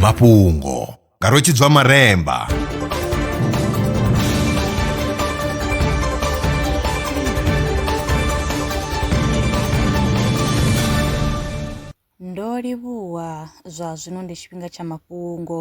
mafhungo nga rwetshidzwa maremba ndo livhuwa zwa zwino ndi tshifhinga tsha mafhungo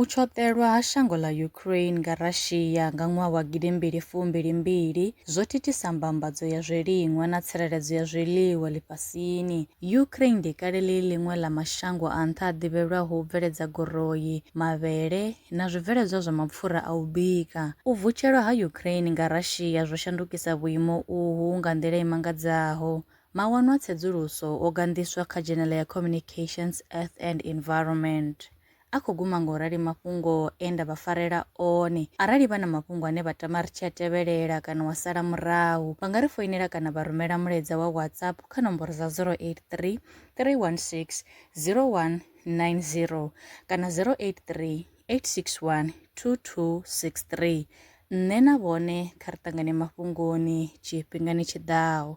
U tshoṱelwa ha shango ḽa Ukraine nga Russia nga ṅwaha wa gidi mbili fumbili mbili zwo thithisa mbambadzo ya zwiliṅwa na tsireledzo ya zwiḽiwa ḽifhasini. Ukraine ndi kale ḽi ḽiṅwe ḽa mashango a nṱha a ḓivhelwaho u bveledza goroi, mavhele na zwibveledzwa zwa mapfura a u bika. U vutshelwa ha Ukraine nga Russia zwo shandukisa vhuimo uhu nga nḓila i mangadzaho, Mawanwa a tsedzuluso o ganḓiswa kha dzhenele ya Communications, Earth and Environment. A khou guma nga u rali mafhungo e nda vha farela one. Arali vha na mafhungo ane vha tama ri tshi a tevhelela kana wa sala murahu, vha nga ri foinela kana vha rumela mulaedza wa WhatsApp kha nomboro dza 083 316 0190 kana 083 861 2263. Nṋe na vhone kha ri ṱangane mafhungoni tshifhingani tshi ḓaho.